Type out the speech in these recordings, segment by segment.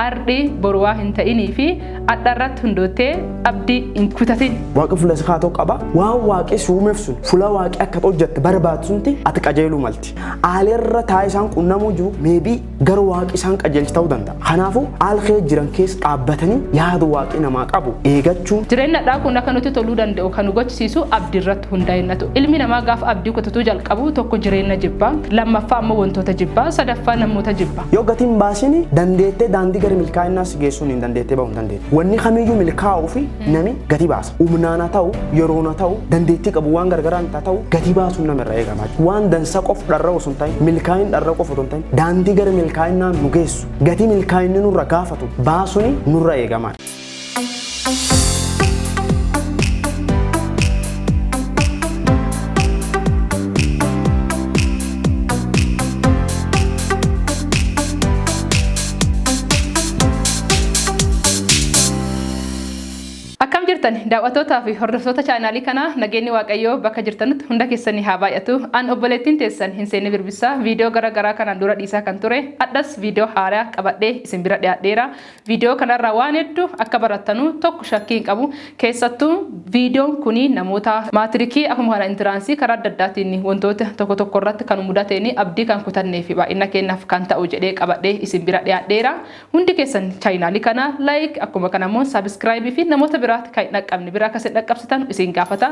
Ardhi boru waa hin ta'inii fi adha irratti hundoottee abdii hin kutatin. Waaqi fulla si kaatoo qaba. Waan Waaqi si uumeef sun fulla Waaqi akka ati hojjatte barbaadu sunti ati qajeeluu malti. Aali irra taa'ee isaan qunnamuu jiru maybe gara Waaqi isaan qajeelche ta'uu danda'a. Kanaafu aal keessa jiran keessa dhaabbatanii yaada Waaqi namaa qabu eegachuun. Jireenni adhaa kun akka nutti toluu danda'u kan nu gochisiisu abdi irratti hundaa'ennatu. Ilmi namaa gaafa abdii kutatuu jalqabu tokko jireenna jibba, lammaffaa ammoo wantoota jibba, sadaffaa namoota jibba. Yoo gatii hin baasin dandeettee daandii gara milkaa'inaa si geessuun hin dandeettee bahu hin dandeettu. Wanni kamiyyuu milkaa'uu fi nami gatii baasa. Humnaan haa ta'u, yeroon haa ta'u, dandeettii qabu waan gargaraan haa ta'u gatii baasuun nama irraa eegama. Waan dansa qof dharra'u osoo hin ta'in, milkaa'in dharra'u qofa osoo hin ta'in, daandii gara milkaa'inaa nu geessu, gatii milkaa'inni nurra gaafatu baasuun nurra eegama. Akkam jirtan daawwattootaa fi hordoftoota chaanaalii kanaa nageenyi waaqayyoo bakka jirtanitti hunda keessanii haa baay'atu. An obboleettiin teessan hin seenne birbissaa viidiyoo gara garaa kanaan dura dhiisaa kan ture addas viidiyoo haaraa qabadhee isin bira dhiyaadheera. Viidiyoo kanarraa waan heddu akka barattanu tokko shakkii hin qabu. Keessattuu viidiyoon kun namoota maatirikii akkuma kana intiraansii karaa adda addaatiin wantoota tokko tokko irratti kan mudateen abdii kan kutannee fi baay'ina keenyaaf kan ta'u jedhee qabadhee isin bira dhiyaadheera. Hundi keessan chaayinaalii kana like akkuma kana immoo sabiskiraayibii fi namoota biraatti kan hin dhaqqabne bira akka isin dhaqqabsitan isin gaafata.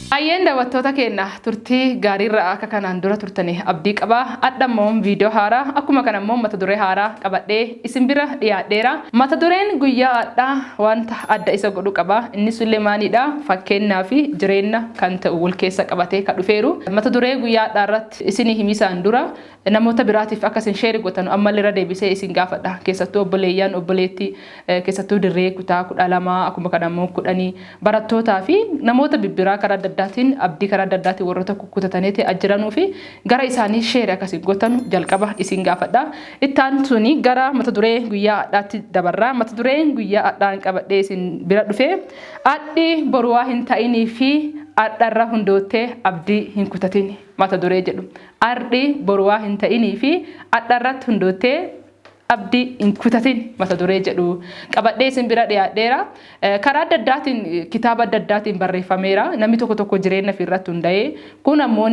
Hayyeen dawattoota keenna turtii gaariirra akka kanaan dura turtani abdii qaba adha immoo video haara akkuma kana immoo mata duree haaraa qabadhee isin bira dhiyaadheera mata dureen guyyaa adha wanta adda isa godhu qaba inni sulle maaliidha fakkeennaa fi jireenna kan ta'u wal keessa qabatee ka dhufeeru mata duree guyyaa adhaa irratti isini himisaan dura Namoota biraatiif akka isin share gotanu ammalle irra deebisee isin gaafadha. Keessattuu obboleeyyan, obboleetti, keessattuu dirree kutaa 12 akkuma kana immoo kudhanii barattootaa fi namoota bibbiraa karaa adda addaatiin abdii karaa adda addaatiin warroota kukkutataniiti ajjiranuu fi gara isaanii share akka isin gotanu jalqaba isin gaafadha. Itti aansuun gara mata duree guyyaa adhaatti dabarra. Mata dureen guyyaa adhaan qabadhee isin bira dhufe adhi boruwaa hin ta'inii fi adharra hundoottee abdii hin kutatin. mata duree jedhu ardhi boru waa hin ta'inii fi adha irratti hundoottee abdi hin kutatin mata duree jedhu qabadhee isin bira dhiyaadheera karaa adda addaatiin kitaaba adda addaatiin barreeffameera namni tokko tokko jireenya fi irratti hunda'ee kun ammoo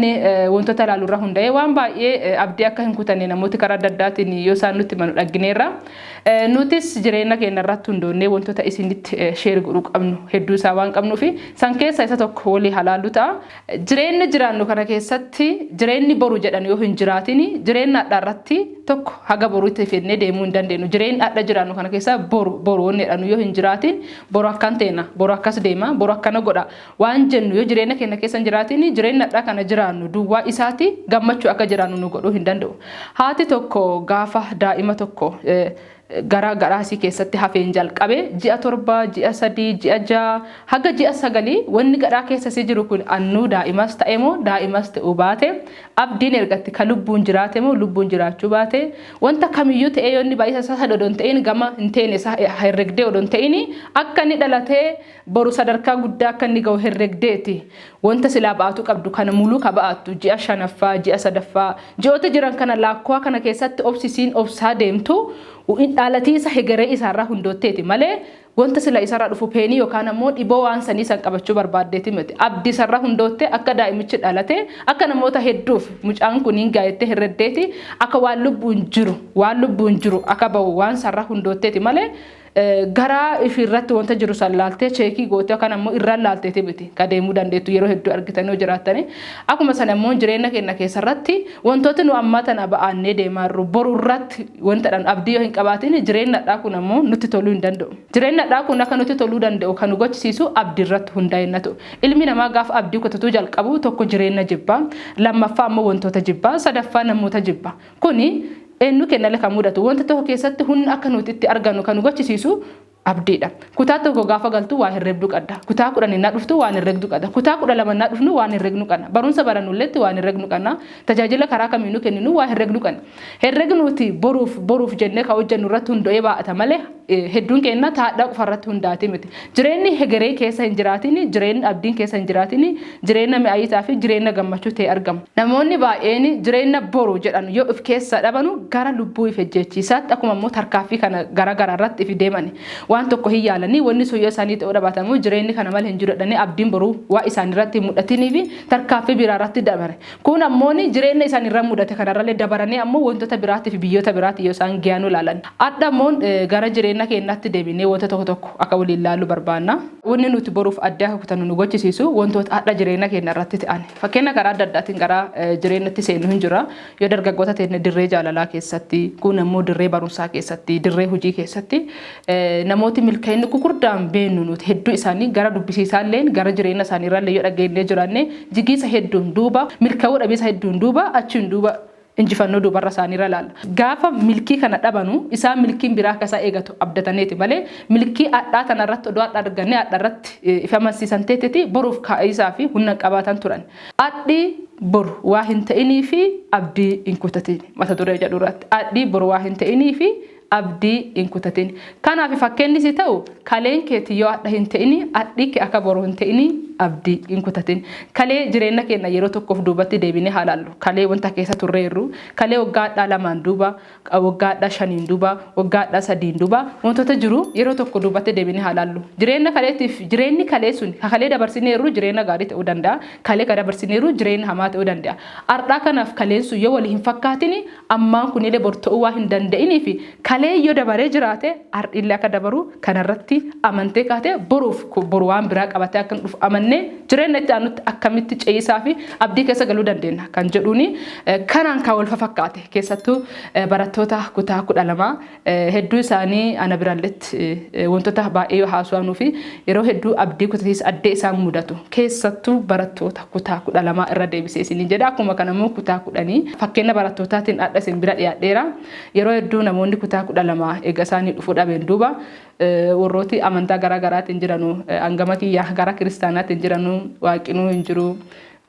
wantoota ilaalu irra hunda'ee waan baay'ee abdii akka hin kutanne namooti karaa adda addaatiin yoo isaan nutti manu dhaggineerra nutis jireenya keenya irratti hundoonnee wantoota isinitti sheer godhuu qabnu hedduu isaa waan qabnuufi san keessa isa tokko walii halaallu ta'a Jireenna jiraannu kana keessatti jireenni boru jedhan yoo hin jiraatin jireenna hadha irratti tokko haga boruutti fennee deemuu hin dandeennu. Jireenni hadha jiraannu kana keessa boru boru wanni jedhanu yoo hin jiraatin boru akkan teena, boru akkas deema, boru akkana godha waan jennu yoo jireenna keenna keessa hin jiraatin jireenni hadha kana jiraannu duwwaa isaati gammachuu akka jiraannu nu godhuu hin danda'u. Haati tokko gaafa daa'ima tokko gara garaa isii keessatti hafeen jalqabe ji'a torba ji'a sadii ji'a ja'a haga ji'a sagalii wanni gadhaa keessa isii jiru kun annuu daa'imas ta'e moo daa'imas ta'uu baate abdiin ergatti ka lubbuun jiraate moo lubbuun jiraachuu baate wanta kamiyyuu ta'ee yoo inni baay'isa isaa sadodon ta'in gama hin teene isaa herregdee odon ta'ini akka inni dhalatee Boru sadarkaa guddaa akka inni ga'u herregdeeti. Wanta silaa ba'atuu qabdu kana muluu ka ba'attu ji'a shanaffaa, ji'a sadaffaa, ji'oota jiran kana laakkowaa kana keessatti obsi isiin obsaa deemtu dhaalatiisa hegeree isaa irraa hundootteeti malee wanta sila isa irraa dhufu peenii yookaan ammoo dhiboo waan sanii san qabachuu barbaaddeeti miti. Abdi isa irraa hundoottee akka daa'imichi dhalate akka namoota hedduuf mucaan kun hin gaayettee herreddeeti akka waan lubbuun jiru waan lubbuun jiru akka ba'u waan isa irraa hundootteeti malee garaa ishii irratti wanta jiru san laaltee cheekii gootee yookaan ammoo irraan laalteeti miti ka deemuu dandeettu yeroo hedduu argitanii yoo jiraattanii akkuma sana immoo jireenya keenya keessa irratti wantooti nu ammaa tana ba'aannee deemaa jirru boru irratti wanta dhan abdii yoo hin qabaatiin jireenya dhaa kun ammoo nutti toluu hin danda'u jireenya dhaa kun akka nutti toluu danda'u kan nu gochisiisu abdii irratti hundaa'inna ta'u ilmi namaa gaaf abdii kutatuu jalqabu tokko jireenya jibbaa lammaffaa ammoo wantoota jibbaa sadaffaa namoota jibbaa Kuni eennu kennale kan mudatu. Wanta tokko keessatti hunna akka nuuti itti argannu kan nu gochisiisu abdiidha. Kutaa tokko gaafa galtu waa herrebdu qadda. Kutaa kudhan ennaa dhuftu waan herregdu qada. Kutaa kudha lama ennaa dhufnu waan herregnu qana. Barumsa barannulletti waan herregnu qana. Tajaajila karaa kamiinu kenninu waa herregnu qana. Herreg nuuti boruuf boruuf jennee ka hojjennu irratti hundo'ee baa'ata malee. hedduun keenna taadhaa qofa irratti hundaati miti. Jireenni hegeree keessa hin jiraatin, jireenni abdiin keessa hin jiraatin, jireenna mi'ayiitaa fi jireenna gammachuu ta'e argama. Namoonni baay'een jireenna boru jedhan yoo if keessaa dhabanu gara lubbuu if ejjeechiisaatti akkuma immoo tarkaaffii kana gara gara irratti ifi deemani waan tokko hin yaalani wanni sun yoo isaanii ta'uu dhabaate ammoo jireenni kana male hin jiru jedhanii abdiin boruu waan isaanirratti hin mudhatiniifi tarkaaffii biraa irratti dabare. Kun ammo jireenna isani irra mudate kanarrale dabarani ammo wontota biraatifi biyyoota biraati yo isaan geya nu laalani. Adha ammo gara jireenna keennati deebine wonta tokko tokko aka woliin laalu barbaanna. Wonni nuti boruuf adde aka kutannu nu gochisiisu wontoota adha jireenna keenna irratti te'ani. Fakkeenna karaa adda addaatiin gara jireennatti seennu hin jirra. Yo dargaggoota teenne dirree jaalalaa keessatti, kuun ammo dirree barumsaa keessatti, dirree hujii keessatti, Namooti milka'inni gugurdaan beennu nuti hedduu isaanii gara dubbisiisaalleen gara jireenya isaaniirraallee yoo dhageennee jiraanne jigiisa hedduun duuba milka'uu dhabiisa hedduun duuba achiin duuba injifannoo duubarra isaaniirra laalla. Gaafa milkii kana dhabanu isaan milkiin biraa akka isaan eegatu abdataneeti malee milkii adhaa tanarratti odoo adha argannee adharratti if amansiisan teeteeti boruuf kaa'iisaa fi hunna hin qabaatan turan. Adhi boru waa hin ta'iniifi abdii hin kutatiin mata duree jedhurratti adhi boru waa hin ta'iniifi abdii hin kutatin. Kanaafi fakkeenni si ta'u, kaleen keeti yoo adha hin ta'ini, adhi ke aka boru hin ta'ini abdi hin kutatin. Kalee jireenna keenna yeroo tokkof duubatti deebinee haa laallu. Kalee wanta keessa turreerru, kalee waggaa adhaa lamaan duuba, waggaa adhaa shaniin duuba, waggaa adhaa sadiin duuba, wantoota jiru yeroo tokko duubatti deebinee haa laallu. Jireenna kaleetiif, jireenni kalee suni, ka kalee dabarsineerru jireenna gaarii ta'uu danda'a, kalee ka dabarsineerru jireenna hamaa ta'uu danda'a. Ardhaa kanaaf kaleen sun yoo wali hin fakkaatini, Ammaan kunile bor ta'uu waan hin danda'iniifi kalee yoo dabaree jiraate har'ille akka dabaru kanarratti amantee kaatee boruuf boru waan biraa qabatee akka dhufu amannee jireenna itti aanutti akkamitti ce'iisaafi abdii keessa galuu dandeenna kan jedhuuni kanaan kan wal fafakkaate keessattuu barattoota kutaa kudha lamaa Hedduu isaanii ana biralletti wantoota baay'ee yoo haaswaanuu fi yeroo hedduu abdii kutatiis addee isaan mudatu keessattuu barattoota kutaa kudha lamaa irra deebisee isiniin jedha akkuma kana immoo kutaa kudhanii fakkeenya barattootaatiin adha isin bira dhiyaadheera yeroo hedduu namoonni kutaa kudha lamaa eega isaanii dhufuu dhabeen duuba warrooti amantaa garaa garaatiin jiranu hangama kiyya gara kiristaanaatiin jiranu waaqinuu hin jiru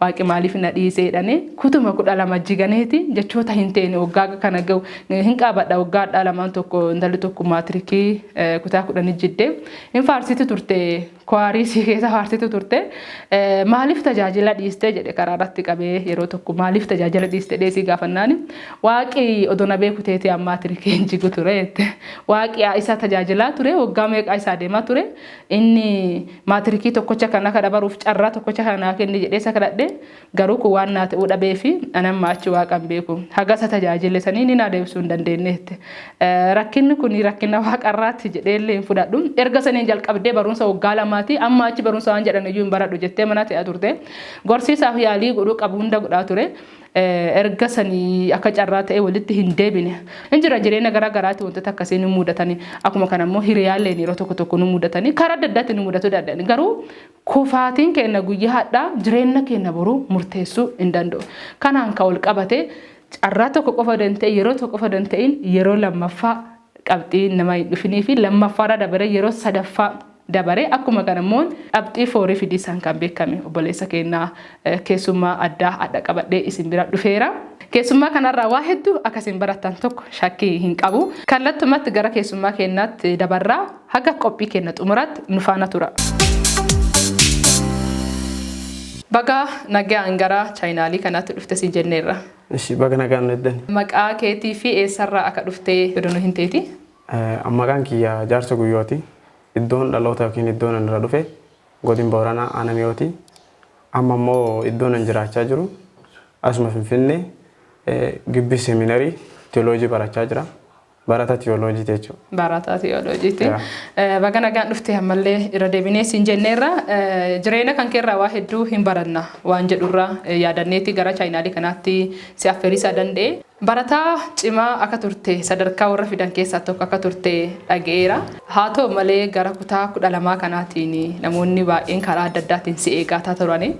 Waaqi maaliif na dhiise jedhane kutuma kudha lama jiganeeti jechoota hin teene waggaa kana gahu hin qaabadha waggaa hadhaa lamaan tokko intalli tokko maatirikii kutaa kudhanii jidde hin faarsiti turte kwaarii sii keessa faarsitu turte maaliif tajaajila dhiiste jedhe karaa irratti qabee yeroo tokko maaliif tajaajila dhiiste dheesii gaafannaani waaqi odona beeku teeti ammaa tirikii hin jigu ture jette waaqi isa tajaajilaa ture waggaa meeqaa isaa deemaa ture Inni maatirikii tokkocha kan akka dabaruuf carraa tokkocha kana naa kenni jedhee isa kadhadhe garuu kun waan naa ta'uu dhabee fi ani amma achi waaqa hin beeku haga isa tajaajile sanii inni naa deebisuu hin dandeenye jette. Rakkinni kun rakkina waaqarraatti jedhee illee hin fudhadhu erga saniin jalqabdee barumsa waggaa lamaati amma achi barumsa waan jedhan iyyuu hin baradhu jettee mana ta'aa turte gorsiisaaf yaalii godhuu qabu hunda godhaa ture. erga sanii akka carraa ta'e walitti hin deebine. Hin jira jireenya garaa garaatti wantoota akkasii ni mudatani. Akkuma kana immoo hiriyaalleen yeroo tokko tokko nu mudatani. Karaa adda addaatti nu mudatu danda'ani. Garuu kufaatiin keenya guyyaa hadhaa jireenya keenya boruu murteessuu hin danda'u. Kanaan kan wal qabate carraa tokko qofa danda'e yeroo tokko qofa danda'in yeroo lammaffaa qabxii nama hin dhufinii fi lammaffaarra dabaree yeroo sadaffaa dabaree akkuma kana immoo qabxii foorii fidiisaan kan beekame obboleessa keenya keessummaa addaa adha qabadhee isin bira dhufeera. Keessummaa kanarraa waa hedduu akka isin barattan tokko shakkii hin qabu. Kallattumatti gara keessummaa keenyaatti dabarraa haga qophii keenya xumuraatti nu faana tura. Bagaa nagaan gara chaayinaalii kanaatti dhufte siin jenneerra. Ishi baga nagaan nu eddani. Maqaa keetii fi eessarraa aka dhuftee odo nu himteeti. An maqaan kiyya Jaarso Guyyooti. Iddoon dhaloota yookiin iddoon an irra dhufe Godin Booranaa Aana Mi'ooti. Amma immoo iddoon an jiraachaa jiru asuma Finfinnee Gibbii Seeminarii Tiyooloojii barachaa jira. Barata tiyooloojiiti jechuudha. Barata tiyooloojiiti. Yeah. Baga nagaan dhufte ammallee irra deebinee siin jenneerra Eh, jireenya kan keerraa waa hedduu hin baranna waan jedhurraa eh, yaadanneeti gara chaayinaalii kanaatti si affeeriisaa danda'e. Barataa cimaa akka turte sadarkaa warra fidan keessaa tokko akka turte dhaga'eera. Haa ta'u malee gara kutaa kudha lamaa kanaatiin namoonni baay'een karaa adda addaatiin si eegaataa turani.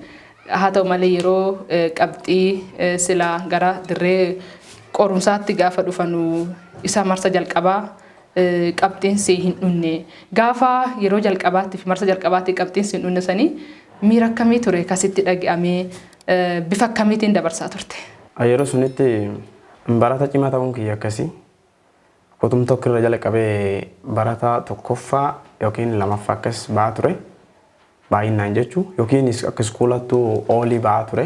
Haa ta'u malee yeroo qabxii silaa gara dirree qorumsaatti gaafa dhufanu isa marsa jalqabaa qabxiin si hin dhunne. Gaafa yeroo jalqabaatti fi marsa jalqabaatti qabxiin si hin dhunne sanii miira akkamii ture ka sitti dhagi'amee bifa akkamiitiin dabarsaa turte? Yeroo sunitti barata cimaa ta'uun kiyya akkasi. Kutum tokko irra jalqabee barataa tokkoffaa yookiin lamaffaa akkas ba'aa ture. Baay'innaan jechu yookiin akka iskuulattu oolii ba'aa ture.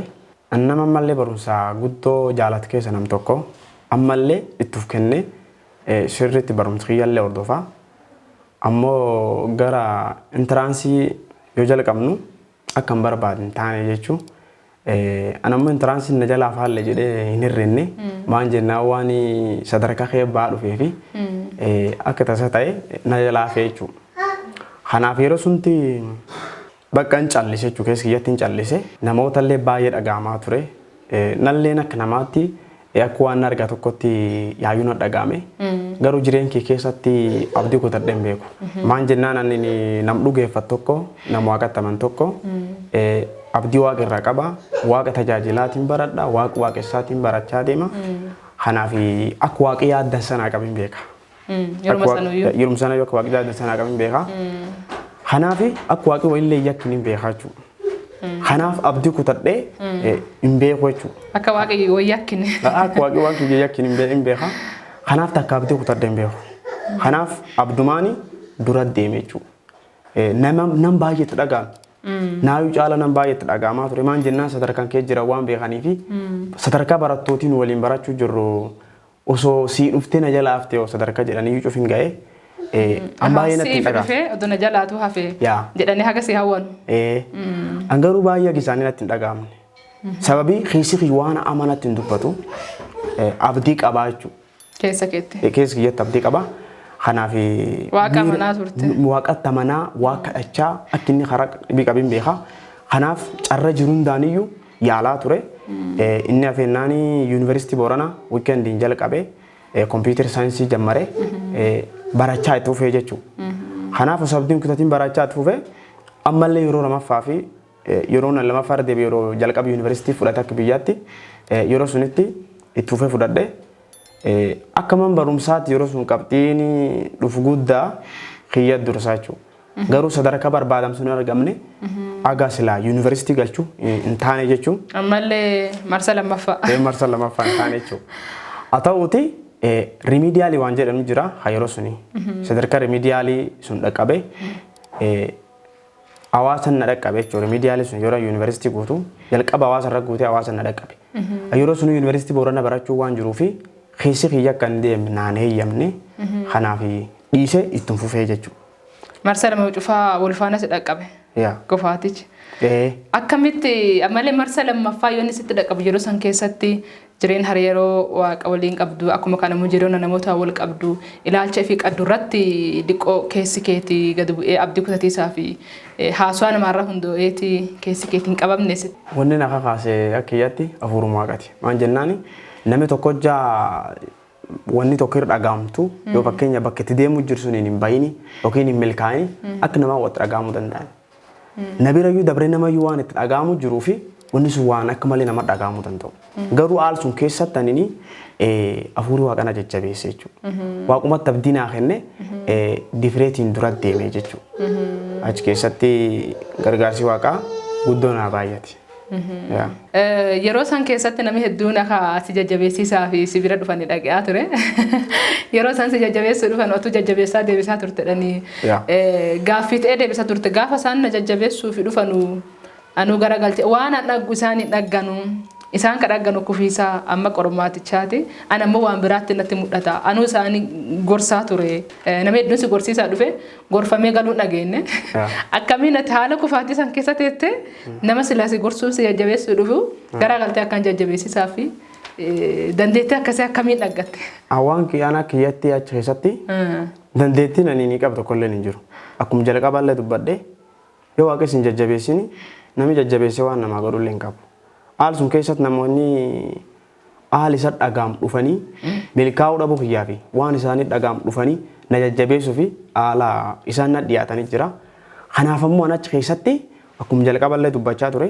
An nama ammallee barumsaa guddoo jaalatu keessa nam tokko. Ammallee itti of kennee sirriitti barumsa kiyyallee hordofa. Ammoo gara intiraansii yoo jalqabnu akka hin barbaadne taane jechu. An ammoo intiraansiin na jalaa faalle jedhee hin hirrinne. Maan jennaan waan sadarkaa kee ba'aa dhufee fi akka tasa ta'e na jalaa hafee jechuudha. Kanaaf yeroo sunti bakka hin callise jechuudha. Keessa kiyyatti hin callise. Namootallee baay'ee dhaga'amaa ture. Nalleen akka namaatti Akka waan na argaa tokkotti yaayyuu na dhaga'ame. Garuu jireenya kee keessatti abdii kutadhee hin beeku. Maan jennaan ani nam dhugeeffatu tokko nam waaqatti aman tokko abdii waaqa irraa qaba. Waaqa tajaajilaatiin baradha. Waaqa waaqessaatiin barachaa deema. Kanaaf akka waaqi yaaddan sanaa qabin beeka. Yeruma Akka sana iyyuu. Waaqa- Yeruma sana iyyuu akka waaqni jaalatan sanaa qabu hin beekaa. Kanaaf akka waaqni walillee yakkin hin beekaa jechuudha. Kanaaf abdii kutadhee eh, hin beeku jechuudha. Akka waaqayyo wayii akkin. Akka waaqni waan kiyya yakkin hin bee- hin beekaa. Kanaaf takka abdii kutadhee hin beeku. Kanaaf abdumaani dura deeme jechuudha. Eh, Nama nam baay'eetti dhaga'ame. Naayuu caala nam baay'eetti dhaga'amaa ture. Maan jennaan sadarkaan kee jira waan beekanii fi sadarkaa barattootiin waliin barachuu jirru Osoo sii dhuftee na jalaa haftee hoo sadarka jedhaniyyuu cufin ga'e ee, an baay'ee natti hin Siif dhagahamu. dhufee odoo na jalaatuu hafee Yaa. jedhanii haga si hawwanu. Ee, an garuu baay'ee akka isaanii natti hin dhagahamne. Sababii keessi kiyya waan amma natti hin dubbatu ee, abdii qabaa jechuudha. Keessa keetti. Keessa kiyyatti abdii qabaa. Kanaaf Waaqa amanaa turte. Waaqatti amanaa, waaqa kadhachaa akka inni karaa dhibii qabin beekaa. Kanaaf carra jiru hundaaniyyuu yaalaa ture. Inni hafeennaan Yuunivarsiitii Booranaa wiikendiin jalqabee kompiitar saayinsii jammare barachaa itti fufee jechuudha. Kanaaf osoo abdiin kutatiin barachaa itti fufee ammallee yeroo lamaffaa fi yeroo nan lamaffaa irra deebi'e yeroo jalqaba yuunivarsiitii fudhate akka biyyaatti yeroo sunitti itti fufee fudhadhe. Akka man barumsaatti yeroo sun qabxiin dhufu guddaa kiyya dursaa jechuudha. Garuu sadarkaa barbaadamu sun hin argamne aga silaa yuunivarsiitii galchu eh, hin taane jechuun Ammallee marsa lammaffaa. eh, marsa lamaffaa hin taane jechuudha. Haa ta'uuti rimiidiyaalii waan jedhamu jira haa yeroo suni sadarkaa rimiidiyaalii sun dhaqqabe eh, hawaasan na dhaqqabe jechuudha. Rimiidiyaalii sun yeroo yuunivarsiitii guutu jalqaba hawaasa irra guutee hawaasan na dhaqqabe. Yeroo suni yuunivarsiitii boorana barachuu waan jiruu fi keessi kiyya akka hin deemne naan heeyyamne kanaaf dhiise ittiin fufee jechuudha. Marsa lama cufaa wal faana si dhaqqabe. Yaa. Kufaatichi. Ee. Akkamitti ammallee marsa lammaffaa yoonni sitti dhaqqabu yeroo san keessatti jireen hariiroo waaqa waliin qabdu akkuma kana immoo jireenya namoota wal qabdu ilaalcha fi qaddu irratti diqqoo keessi keeti gad bu'ee abdii kutatiisaa fi eh, haasawaa namaarra hundoo'eeti keessi keeti hin qabamne sitti. Wanni na kakaase akka kiyyatti afuuruma waaqati. Maan jennaani namni tokko hojjaa wanni tokko irra dhagaamtu yoo fakkeenya bakka itti deemu jiru suniin hin bayini yookiin hin milkaa'ini akka namaa watti dhagaamuu danda'an. Na bira iyyuu dabree nama iyyuu waan itti dhagaamu jiruu fi wanni sun waan akka malee nama dhagaamu danda'u. Garuu haal sun keessatti anini afuuri waaqana jajjabeesse jechuudha. Waaqumatti abdii naa kenne difireetiin dura deeme jechuudha. Achi keessatti gargaarsi waaqaa guddoo naa baay'ate. Yeah. Eh, Yeroo san keessatti namni hedduun akka si jajjabeessisaa fi si bira dhufanii dhaqaa ture. Yeroo san si jajjabeessuu dhufan otuu jajjabeessaa deebisaa turtedhanii Yeah. eh, gaaffii ta'ee deebisaa turte. Gaafa isaan na jajjabeessuu fi dhufanu anuu gara galche waan an dhaggu isaan hin dhagganu. Isaan ka dhagganu kufiisaa amma qormaatichaati. An ammoo waan biraatti natti mul'ata. Anuu isaanii gorsaa ture. Eh, Namni hedduun si gorsiisaa dhufe. gorfamee galuun dhageenne akkamiin ati haala kufaatii san keessa teettee nama silaasi gorsuun si jajjabeessuu dhufu garaa galtee akkaan jajjabeessisaa fi dandeettii akkasii akkamiin dhaggatte. Waan kiyaanaa kiyyatti achi keessatti dandeettiin ani ni qabu tokko illee hin jiru. Akkuma jalqabaa illee dubbadhe yoo waaqessi hin jajjabeessini namni jajjabeessee waan namaa godhu illee hin qabu. Haal sun keessatti namoonni Aal isa dhagaam dhufanii milkaa'uu dhabuu kiyyaa fi waan isaanii dhagaam dhufanii na jajjabeessu fi aala isaan na dhiyaatanii jira. Kanaaf ammoo an achi keessatti akkum jalqaba illee dubbachaa ture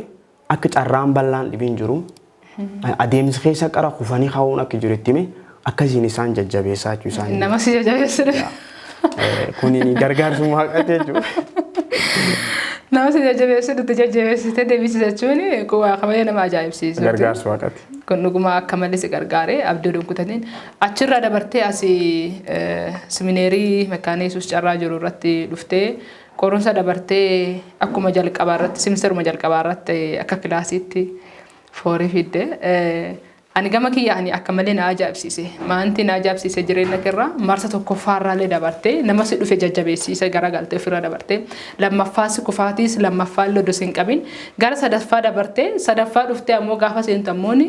akka carraan bal'aan dhibiin jiru adeemsi keessa qara kufanii ka'uun akka jiru itti hime akkasiin isaan jajjabeessaa jechuu isaanii. Nama si jajjabeessu. Eh, Kuniin gargaarsuma waaqaati jechuudha. Nama si jajjabeessu nuti jajjabeessitee deebisi jechuun kun waa kabaja nama ajaa'ibsiisu. Gargaarsa waaqaati. Kun dhuguma akka malee si gargaaree abdii waliin kutatiin achirraa dabartee asii eh, simineerii mekkaanii yesuus carraa jiru irratti dhuftee qorumsa dabartee akkuma jalqabaa irratti simisteruma jalqabaa irratti akka kilaasiitti foorii fidde. Eh, Ani gama kiyyaani akka malee na ajaa'ibsiise. Maanti na ajaa'ibsiise jireenna kerra marsa tokkoffaarraalle dabarte nama si dhufe jajjabeessiise garagalte ufirra dabarte lammaffaa si kufaatiis lammaffaalle odo sin qabin gara sadaffaa dabarte sadaffaa dhufte ammoo gaafa seentu ammooni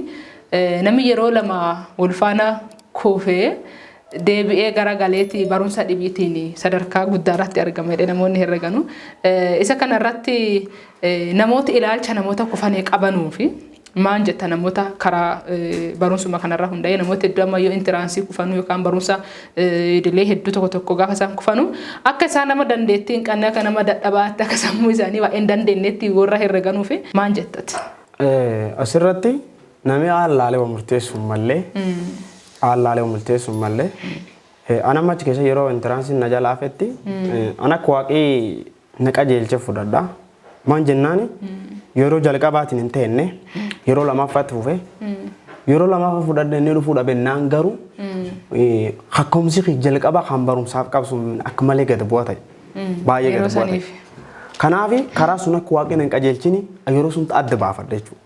nami yeroo lama wol faana kufee deebi'ee gara galeeti barumsa dhibiitiin sadarkaa guddaa irratti argama jedhee namoonni herreganu. Isa kana irratti namoota ilaalcha namoota kufanii qabanuu fi maan jetta namoota karaa barumsuma kanarra hunda'ee namoota hedduu amma yoo intiraansii kufanuu yookaan barumsa idilee hedduu tokko tokko gaafa isaan kufanuu akka isaan nama dandeettii hin qabne akka nama dadhabaatti akka sammuu isaanii waa hin dandeenyetti warra herreganuu fi maan jettati. Asirratti Nami aallaalee wa murteessu hin malle, aallaalee wa multeessu hin malle. An amma achi keessa yeroo intiraansiin na jala hafetti an akka waaqii na qajeelche fudhadha. Maan jennaani yeroo jalqabaatiin hin teenne yeroo lamaffaatti fufe yeroo lamaffa fudhadhe inni dhufuu dhabennaan garuu kakkoomsi kiyya jalqabaa kan barumsaaf qabsu akka malee gad bu'a ta'e. Baay'ee Yeroo gad bu'a ta'e. saniif. Kanaaf karaa sun akka waaqni hin qajeelchini yeroo sun adda baafadha jechuudha.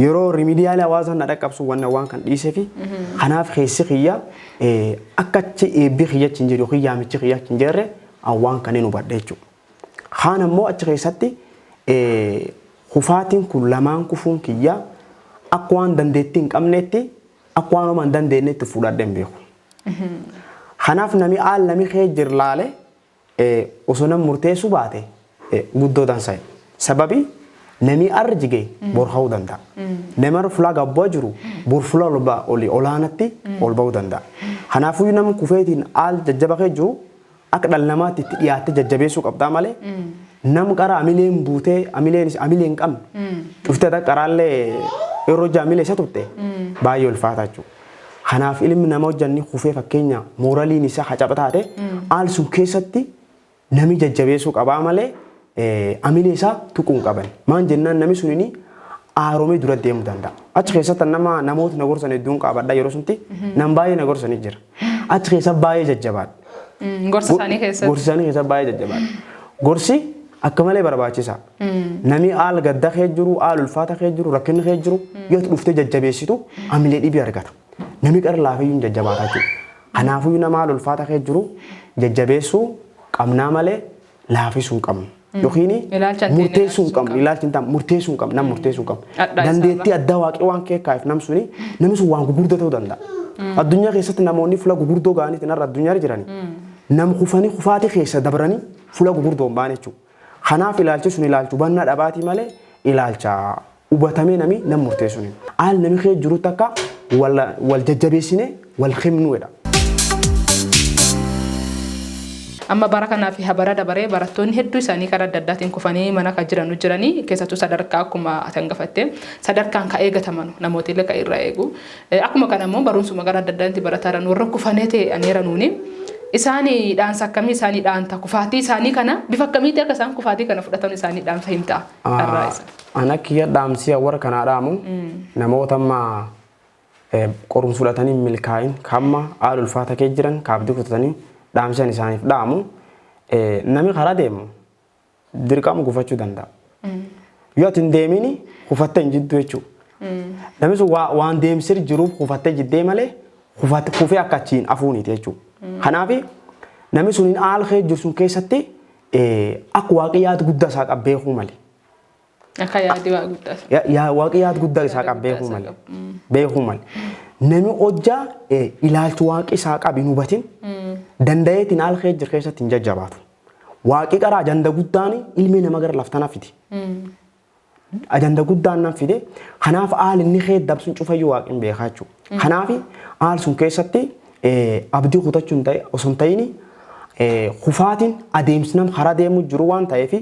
Yeroo rimidiyaala hawaasaan na dhaqqabsu wanna waan kan dhiisefi kanaaf keessi kiyya akka achi eebbi kiyya achi hin jiru yookiin yaamichi kiyya achi hin jirre waan kan hin hubadhe jechuudha. Kaan ammoo achi keessatti kufaatiin kun lamaan kufuun kiyya akka waan dandeettii hin qabneetti akka waan homaa hin dandeenyetti fudhadhe hin beeku. Kanaaf nami aal nami kee jirlaale osoo nam murteessu baate guddoo dansayu sababi namii arr jige bor ka'uu danda'a nam arr fulaa gabbu'a jiru bor fula oli olaanatti ol ba'uu danda'a kanaafuyu nam kufeetiin aal jajjaba kee jiru akka dhal namaatti itti dhiyaatte jajjabeessuu qabdaa male nam qara amileen buutee amileen amilee hin qabne cuftee ata qaraallee yeroo jaamilee isa tutte baay'ee ulfaataa jechuu. Kanaaf ilmi nama hojjan ni kufee fakkeenya mooraliin isaa hacaba taate haal sun keessatti nami jajjabeessuu qabaa malee amilee isaa tuquun qaban. Maan jennaan nami sun inni aaromee dura deemuu danda'a. Achi keessatti nama namoota na gorsan hedduun qaabadha yeroo sunti nam baay'ee na gorsan jira. Achi keessa baay'ee jajjabaadha. Gorsa isaanii keessatti. Gorsa isaanii keessa baay'ee jajjabaadha. Gorsi akka malee barbaachisa. Namni haal gadda kee jiru, haal ulfaata kee jiru, rakkinni kee jiru yoo dhuftee jajjabeessitu hamilee dhibii argata. Namni qara laafiyyuu hin jajjabaata jechuudha. Kanaafuu nama haal ulfaata kee jiru jajjabeessuu qabnaa malee laafisuu hin qabnu. Yookiin Ilaalcha addeen murteessuu hin qabnu. Ilaalchi hin taane murteessuu hin qabnu. Nam murteessuu hin qabnu. Addaa isaa Dandeettii addaa waaqii waan kee kaa'eef nam suni namni sun waan gurguddaa ta'uu danda'a. Addunyaa keessatti namoonni fuula gurguddoo ga'aniitiin har'a addunyaa irra jirani. Nam kufanii kufaatii keessa dabranii fuula gurguddoo hin baane jechuudha. Kanaaf ilaalchi sun ilaalcha hubannaa dhabaatii malee ilaalcha hubatamee nami nam murteessun hin. Haal nami keessa jirutti akka wal jajjabeessinee wal himnu jedha. Amma bara kanaa fi ha bara dabaree barattoonni hedduu isaanii karaa adda addaatiin kufanii mana ka jiranu jiranii keessattuu sadarkaa akkuma ati hangafattee sadarkaan ka eegatamanu namootiillee ka irraa eegu Akkuma kana immoo barumsuma gara adda addaatti barataa jiran warra kufanee ta'e ani eranuuni isaani dhaansa akkamii isaanii dhaanta kufaatii isaanii kana bifa akkamiitti akka isaan kufaatii kana fudhatan isaanii dhaanfa himta carraa isa. Ana kiyya dhaamsiya warra kanaa dhaamu namoota amma qorumsa fudhatanii milkaa'in kamma haala ulfaata kee jiran kaabdii kutatanii dhaamsiyan isaaniif dhaamu nami karaa deemu dirqama gufachuu danda'a. Yoo ati hin deemiin kufattee hin jiddu jechuudha. Namni sun waa- waan deemsir jiruuf kufattee jiddee malee kufat- kufee akka achiin afuuniti jechuudha. Kanaaf namni sun hin aalkee jiru sun keessatti eh, akka waaqii yaada guddaa isaa qabu beekuu male. Akka yaadii waa guddaa sana. Ya- yaa waaqi yaad guddaa isaa Yaada qab guddaa beekuu isaa malee qabu. Mm. beekuu malee nami hojjaa eh, ilaalchi waaqi isaa qabu hin hubatin danda'eetiin haala kee jiru keessatti hin jajjabaatu waaqi qara ajanda guddaan ilmi nama gara laftana fide ajanda guddaan nan fide kanaaf haala inni kee dabsuun cufayyuu waaqin beekaa jechuudha. Kanaaf haal sun keessatti abdii kutachuun osoo hin ta'in kufaatiin adeemsi nam karaa deemuu jiru waan ta'eef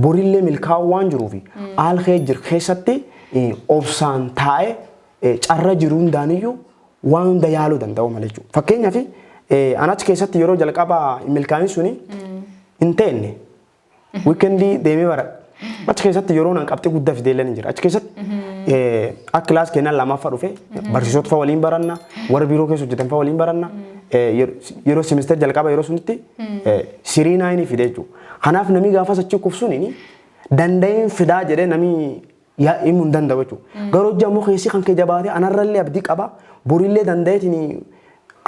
borillee milkaa'uu waan jiruuf haal kee jiru keessatti obsaan taa'ee carra jiru hundaaniyyuu waan hunda yaaluu danda'u malee jechuudha. Fakkeenyaaf an achi keessatti yeroo jalqabaa milkaa'in suni hin teenne. Wiikendii deemee bara. Achi keessatti yeroo nan qabxii guddaa fidee illee ni jira. Achi keessatti eh, akka kilaas keenyaan lammaffaa dhufe barsiisota fa'aa waliin baranna warra biiroo keessa hojjetan fa'aa waliin baranna eh, yer- yeroo simisteer jalqaba yeroo sunitti eh, sirii naayinii fide jechuudha. Kanaaf namni gaafas achi kufsuun danda'een fidaa jedhee namni yaa himu hin danda'u jechuudha. Garuu hojii ammoo keessi kan kee jabaatee anarrallee abdii qaba borillee danda'eetiin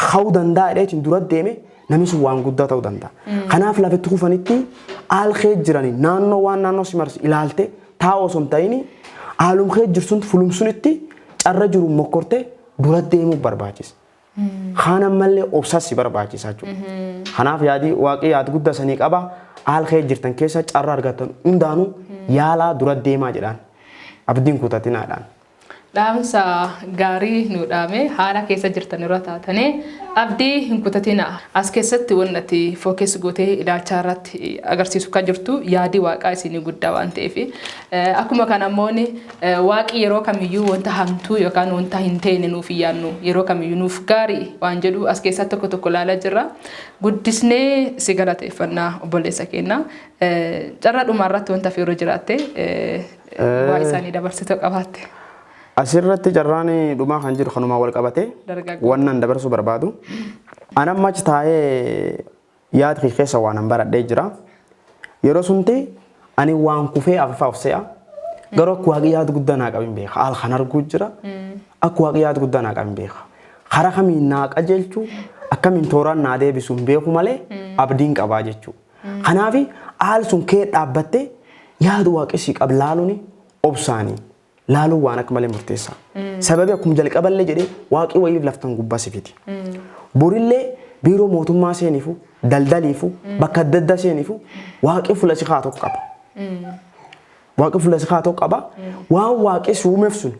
hawuu danda'a jedheetiin dura deeme namni sun waan guddaa ta'uu danda'a. Kanaaf lafa itti kufanitti haal kee jiranii naannoo waan naannoo si marsu ilaalte taa'u osoo hin ta'in haalum kee jirsun fulumsunitti carra jiru mokkortee dura deemuu barbaachisa. Kaan ammallee obsas si barbaachisa jechuudha. Kanaaf yaadi waaqii yaad guddaa sanii qaba. Haal kee jirtan keessa carra argattan hundaanuu yaalaa dura deemaa jedhaan. Abdiin kutatinaadhaan. Dhaamsa gaarii nu dhaame haala keessa jirtan irra taatanii abdii hin kutatina. As keessatti wanni ati fookees gootee ilaalchaa irratti agarsiisu kan jirtu yaadii waaqaa isinii guddaa waan ta'eef. Akkuma kana immoo Waaqi yeroo kamiyyuu wanta hamtuu yookaan wanta hin teene nuuf hin yaannu. Yeroo kamiyyuu nuuf gaarii waan jedhu as keessaa tokko tokko ilaalaa jirra. Guddisnee si galateeffanna obboleessa keenya. Carraa dhumaa irratti wanta fi yeroo jiraatte waa isaanii dabarsitoo qabaatte. Asirratti carraan dhumaa kan jiru kanumaan wal qabatee Dargaggoo. wannan dabarsuu barbaadu. An amma achi taa'ee Yaad kee keessa waanan baradhee jira. Yeroo sunti ani waan kufee afafaa of se'a. Garuu akka waaqi yaad guddaa naa qabin beeka. Haal kan arguu jira. Akka waaqi yaad guddaa naa qabin beeka. Karaa kamiin naa qajeelchu akkamiin tooraan naa deebisu hin beeku malee abdiin qabaa jechuu. Kanaafi haal sun kee dhaabbattee yaad waaqi si qab laaluuni obsaanii. laaluun waan akka malee murteessaa. Sababii akkuma jalqaballee jedhee waaqii wayii laftan gubbaa sifiti. Borillee biiroo mootummaa seenifu, daldaliifu, bakka adda addaa seenifu waaqii fuula si haa tokko qaba. Waaqii fuula si haa tokko qaba. Waan waaqii si uumeef sun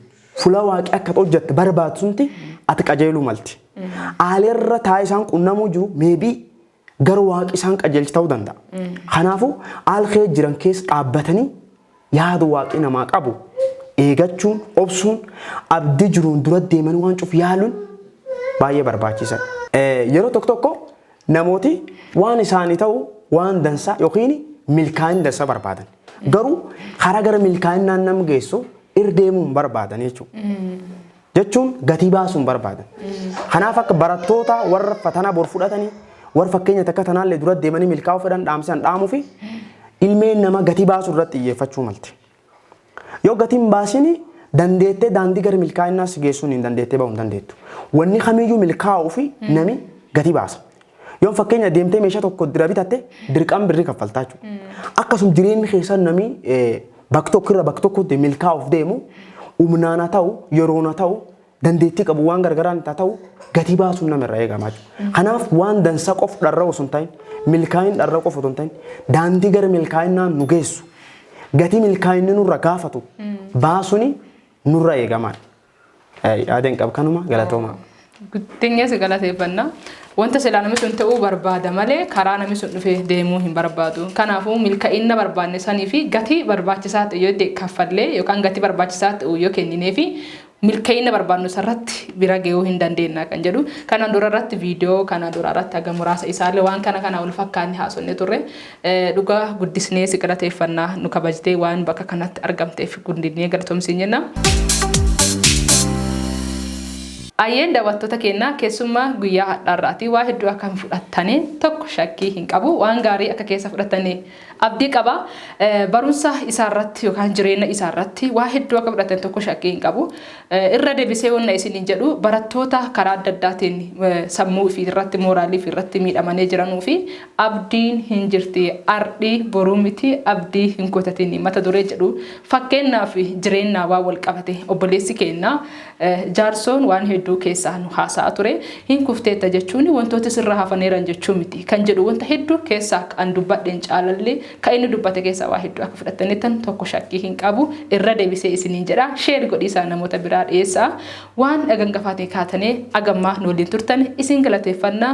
fuula waaqii akka hojjette barbaadsunti ati qajeeluu malti. Aalerra taa'ee isaan qunnamuu jiru meebii Garuu waaqi isaan qajeelchi ta'uu danda'a. Kanaafuu haal kee jiran keessa dhaabbatanii yaada waaqii namaa qabu eegachuun, obsuun, abdii jiruun dura deemanii waan cufu yaaluun baay'ee barbaachiisadha. Yeroo tokko tokko namooti waan isaanii ta'u waan dansaa yookiin milkaa'in dansaa barbaadan. Garuu karaa gara milkaa'innaan nam geessu irra deemuun barbaadan jechuudha. jechuun gatii baasuu hin barbaadan. Kanaaf akka barattoota warra fatanaa bor fudhatanii warra fakkeenya takka tanaallee dura deemanii milkaa'uu fedhan dhaamsan dhaamuu fi ilmeen nama gatii baasuu irratti xiyyeeffachuu malte. Yoo gatii hin baasini dandeettee daandii gara milkaa'inaa si geessuun hin dandeettee bahuu hin dandeettu. Wanni kamiyyuu milkaa'uu fi nami gatii baasa. Yoon fakkeenya deemtee meeshaa tokko dira bitatte dirqaan birrii kaffaltaa jechuudha. Akkasuma jireenyi keessan namni bakka tokko irra bakka tokkotti milkaa'uuf deemu humnaan haa ta'u yeroon haa ta'u dandeettii qabu waan gargaraan haa ta'u gatii baasuun nama irraa eegamaa jechuudha. Kanaaf waan dansa qof dharra osoo hin ta'in milkaa'in dharra qof osoo hin ta'in daandii gara milkaa'inaan nu geessu gatii milkaa'inni nurra gaafatu baasuun nurra eegamaa. Yaadan qab kanuma galatooma. Guddinni si galateeffanna. Wanta silaa namni sun ta'uu barbaada malee karaa namni sun dhufee deemuu hin barbaadu. Kanaafuu milka'inna barbaadne sanii fi gatii barbaachisaa ta'e yoo ta'e kaffallee yookaan gatii barbaachisaa ta'u yoo kenninee fi milka'inna barbaadnu sarratti bira ga'uu hin dandeenna kan jedhu. Kanaan dura irratti viidiyoo kanaan dura irratti haga muraasa isaallee waan kana kana wal fakkaanne haasofne turre. Dhugaa guddisnee si galateeffanna nu kabajtee waan bakka kanatti argamteef gundinee galatomi siin jenna. Ayyeen daawwattoota keennaa keessummaa guyyaa hadhaarraati waa hedduu akka hin fudhattane tokko shakkii hin qabu waan gaarii akka keessa fudhattane abdii qaba barumsa isaarratti yookaan jireenya isaarratti waa hedduu akka fudhattan tokko shakkii hin qabu irra deebisee wanna isiniin jedhu barattoota karaa adda addaatiin sammuu fi irratti mooraalii fi irratti miidhamanii jiranuu fi Abdiin hin jirti ardhi boruu miti abdii hin kutatini mata duree jedhu fakkeenna fi jireennaa waan wal qabate obboleessi keenna jaarsoon waan hedduu keessaa nu haasa'a ture hin kufteetta jechuun wantooti sirra hafaneeran jechuu miti kan jedhu wanta hedduu keessaa an dubbadheen caalallee ka inni dubbate keessaa waa hedduu akka fudhattanittan tokko shakkii hin qabu irra debisee isiniin jedha share godhiisaa namoota biraa dhiyeessaa waan gangafaatii kaatanee agammaa nu waliin turtane isin galateeffanna